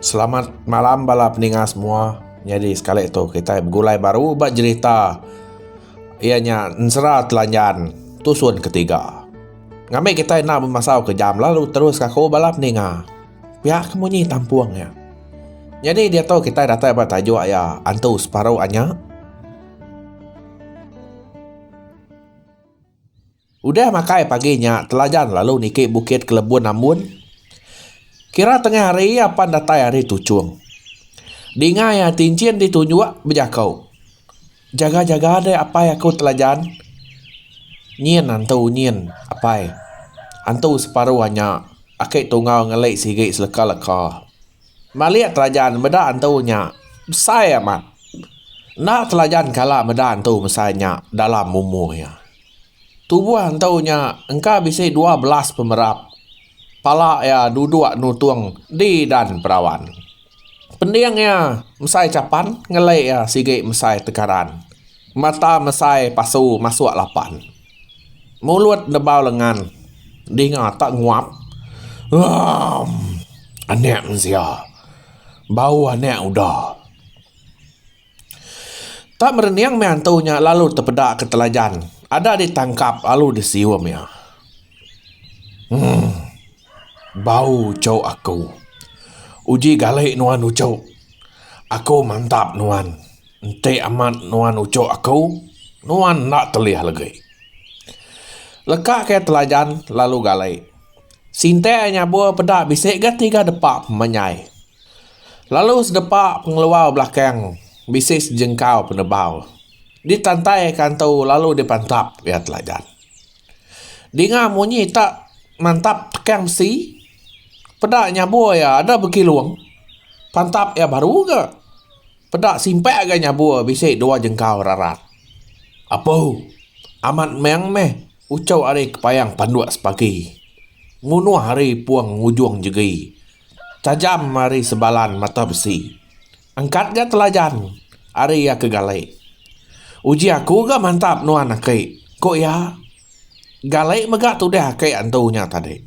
Selamat malam bala peninga semua. Nyadi sekali tu kita begulai baru ba jerita iya nya Ensera Telanjan tusun ketiga. Ngambi kita enda bemasau ke jam lalu terus aku bala peninga. Pia ke munyi tampung iya. Nyadi diatu kitai datai ba tajuk iya Antu Separuh Anya. Udah makai pagi nya Telajan lalu niki Bukit Kelebun Ambun. Kira tengah hari iya pan datai ari Tuchung. Dinga iya Tinchin ditunjuk bejako. Jaga jaga deh apai aku telajan. Nyin antu nyin apai. Antu separu anya aki tungau ngeli sigi seleka leka. Malik telajan meda antu nya besai amat. Enda telajan kala meda antu besai nya dalam umur iya. Tubuh antu nya engka bisi dua belas pemerap. Pala iya duduk nutung di dan perawan. Pending iya mesai chapan ngelek iya sigi mesai tegaran mata mesai pasu masuk lapan mulut nebau lengan dinga ta nguap uum anek mensia bau anek uda. Tang merening meh antu nya lalu tepeda ke telajan ada di tangkap lalu di sium iya. Hum. Bau uchup aku. Uji gali nuan uchup. Aku mantap nuan. Enti amat nuan uchup aku nuan enda telih legi. Leka ke telajan lalu gali. Sinte nyabur peda bisi ga tiga depa pemanyai. Lalu sedepa pengeluar belakang bisi sejengkau penebau ditantai ka antu lalu dipantap iya teladan. Dinga munyi ta mantap tekang besi peda nyabur iya ada bekilung pantap iya baru ga peda simpak ga nyabur bisi dua jengkau rarat. Apu amat meng meh uchu ari kepayang panduk sepagi ngunoh ari pung ngujung jegi Tajam ari sebalan mata besi. Angkat ga telajan ari iya ke gali. Uji aku ga mantap nuan aki, ku iya. Gali mega tudah aki antu nya tadi.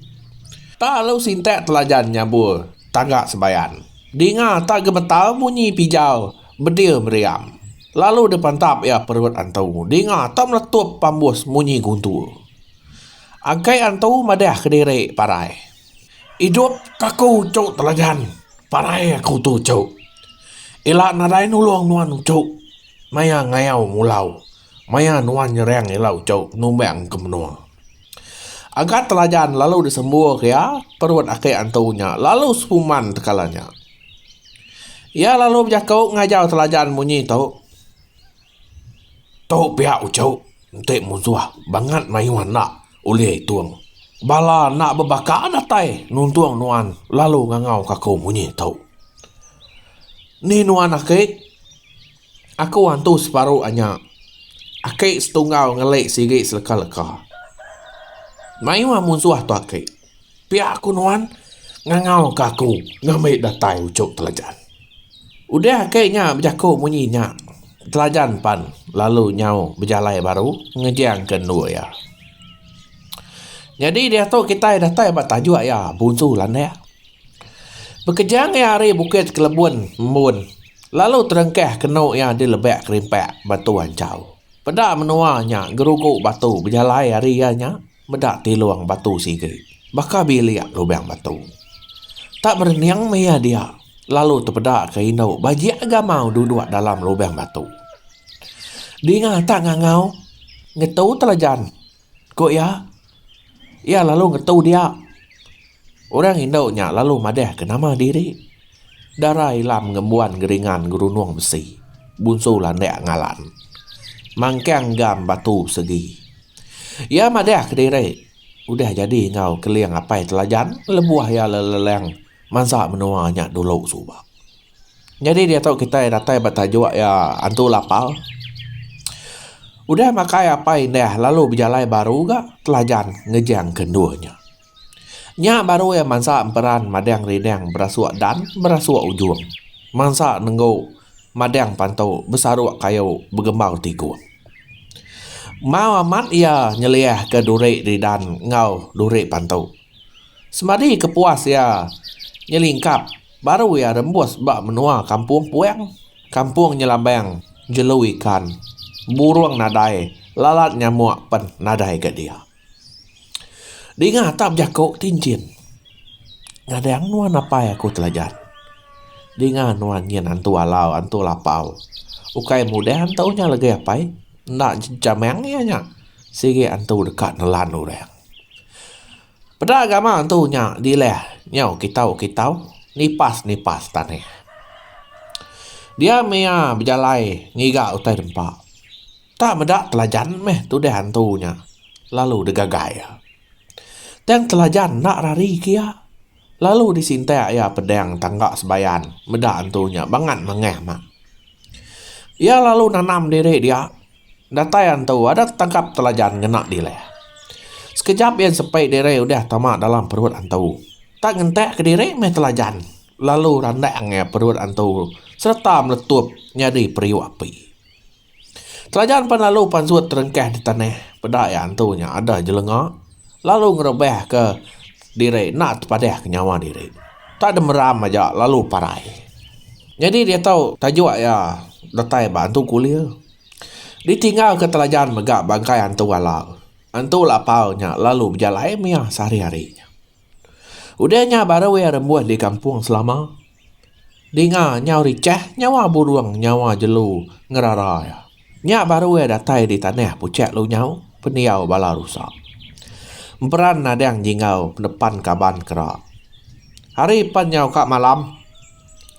Tak lalu sintak telajan nyabur tangga sebayan. Dinga tak gemetar bunyi pijau bedir meriam. Lalu dipantap iya perut antu dinga tak meletup pambus munyi guntur. Aki antu madah kediri parai. Idup aku tu telajan parai aku tu cu ila nadai nulong nuan cu maya ngayau ngulau maya nuan nyerang ila cu numbang ke menua agat telajan lalu disembur ke iya perut ake antu nya lalu sepuman tekala nya iya lalu bejaku ngajau telajan munyi tu tu pia uchu enti musuh bangat mayuh enda. Ulih itung. Bala anak bebaka datai nuntung nuan lalu ngangauka aku munyi tu. Ni nuan aki? Aku antu separu anya. Aki setunggal ngeli sigi seleka-leka. Mayuh munsuh tu aki. Pia ku nuan ngangau ka aku ngambi datai uchup telajan. Udah ake nya bejaku munyi nya telajan pan lalu nyau bejalai baru ngejang ke endur iya. Nyadi diatu kitai datai ba tajuk iya Bunsu Landak. Bekejang iya ari Bukit Kelebun Embun lalu terengkah ke endur iya di Lebak Kerimpak, Batu Anchau. Peda menua nya gerugu batu bejalai ari iya nya. Meda tilung batu sigi. Baka bilik lubang batu. Tak berening maya dia lalu tepeda ke indu bajik gamau duduk dalam lubang batu. Dinga tak ngangau ngetu telajan, ku iya. Iya lalu ngetu dia. Orang indu nya lalu madahka nama diri, Dara Ilam Ngembuan Geringan Gerunung Besi, Bunsu Landak Ngalan, Mangkang Gam Batu Segi. Iya madahka diri udah jadi enggau Keling Apai Telajan lebuh iya lelelang mansa menua nya dulu suba. Nyadi diatu kitai datai ba tajuk iya Antu Lapau. Udah makai apai indah lalu bejalai baru ga Telajan ngejangka endur nya. Nya baru iya mansa emperan madang rindang berasuk dan berasuk ujung. Mansa nenggu madang pantu besaruk kayu begembau tikung. Mau amat iya nyeliahka duri ridan enggau duri pantu. Semadi ke puas iya nyelingkap baru iya rembus ba menua Kampung Puang, Kampung Nyelambang, Jelu Ikan, Burung Nadai, Lalat Nyamuk pen nadai ka dia. Dinga tak bejaku ti enchin. Nyadang nuan apai aku telajan. Dinga nuan nyin antu alau antu lapau. Ukai mudah ento nya legai apai. Enda jamang iya nya. Sigi antu deka nelan orang. Peda gama antu nya dilah nyau kitau kitau nipas nipas tanah. Diam iya bejalai ngiga utai dempa. Tak meda Telajan meh tudah antu nya lalu degagai iya. Tang Telajan enda rari ke iya, lalu disintak iya pedang tangga Sebayan meda antu nya bangat mangah mak. Iya lalu nanam diri dia, datai antu adat tangkap Telajan ngena dilah. Sekejap iya sepi diri udah tama dalam perut antu. Tak ngentak kediri meh Telajan lalu randang iya perut antu sereta meletup nyadi periuk api. Telaja empan lalu pansut terengkah di tanah peda iya antu nya adah jelenga lalu ngerebahka diri enda tepadahka nyawa diri. Enda deh meram aja lalu parai. Nyadi diatu tajuk iya datai ba antu kulir. Ditinggalka telaja mega bangkai antu Alang. Antu Lapau nya lalu bejalai mih iya sehari-hari nya. Udah nya baru iya rembuh di kampung selama. Dinga nyau richah nyawa burung nyawa jelu ngerara iya. Nya baru iya datai di tanah puchak lu nyau pendiau bala rusa. Emperan nadang jingau nepan kaban kera. Hari pan nyau ka malam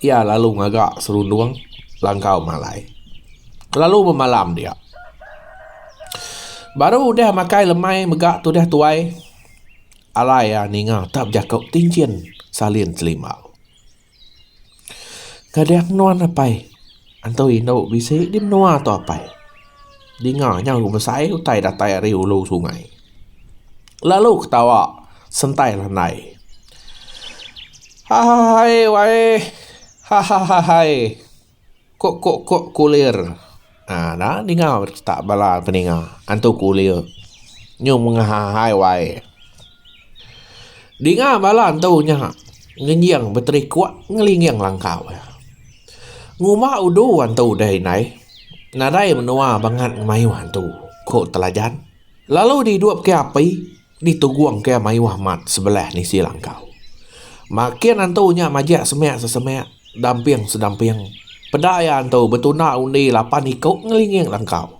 iya lalu ngaga serundung langkau malai. Lalu bemalam dia. Baru udah makai lemai mega tudah tuai. Alai iya ninga tak bejako tinjin salin selimau. Ngadan nuan apai antu indu bisi di menua tu apai. Dinga nyau besai utai datai ari ulu sungai. Lalu ketawa sentai landai. Hahahaii waee hahahaii. Kok kok kok kulir. Haa da ninga berita bala peninga antu kulir nyu mengah ahai wai. Dinga bala antu nya ngenjing beterikok ngelinging langkau iya. Nguma udu antu deh indai nadai menua bangat ngemayuh antu, ku Telajan. Lalu didupka api. Ni Tugong ke mayuh mat sebelah nisi langkau. Makin antu nya majak semak sesemak, damping sedamping. Peda iya antu betunda undi lapan iku ngelinging langkau.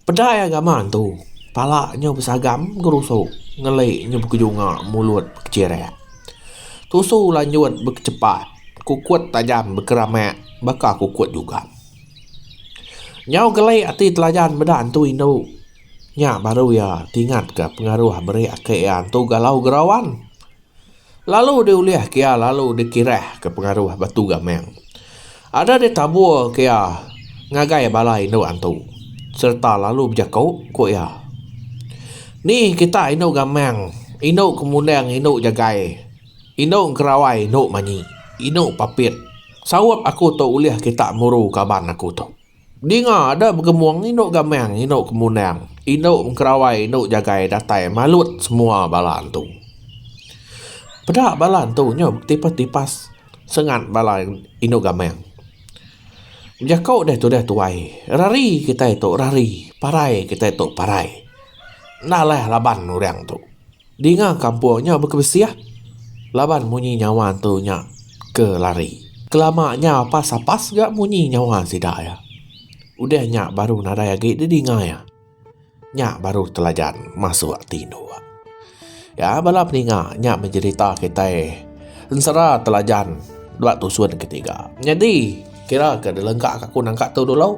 Peda iya gamak antu, pala nyu besagam begerusu, ngeli nyu bekejunga mulut bekechirak. Tusu lanjut bekechepat, kukut tajam bekeramak baka kukut jugam. Nyau geli ati telajan meda antu indu. Nya baru iya tingatka pengaruh meri aka iya antu galau gerawan lalu diulihka iya lalu dikirahka pengaruh batu gamang. Ada ditaburka iya ngagai bala indu antu sereta lalu bejako ku iya, Ni kita indu gamang, indu kemundang indu jagai, indu engkerawai indu manyi, indu papit. Saup aku tu ulih kita muru kaban aku tu. Dinga da begemung indu gamang indu kemundang indu mengkerawai indu jagai datai malut semua bala antu. Peda bala antu nyu betipas tipas sengat bala indu gamang. Bejaku deh tudah tuai rari kitai tu rari parai kitai tu parai. Enda leh laban orang tu. Dinga kampung nya bekebesih laban munyi nyawa antu nya ke lari. Kelama nya pas apas ga munyi nyawa sida iya. Udah nya baru nadai agi didinga iya. Nya baru telajan masuk tinduk. Ya bala peninga nya bejerita kitai ensera telajan ba tusun ketiga. Nyadi kira ke dilengka ka aku nangka tu dulu.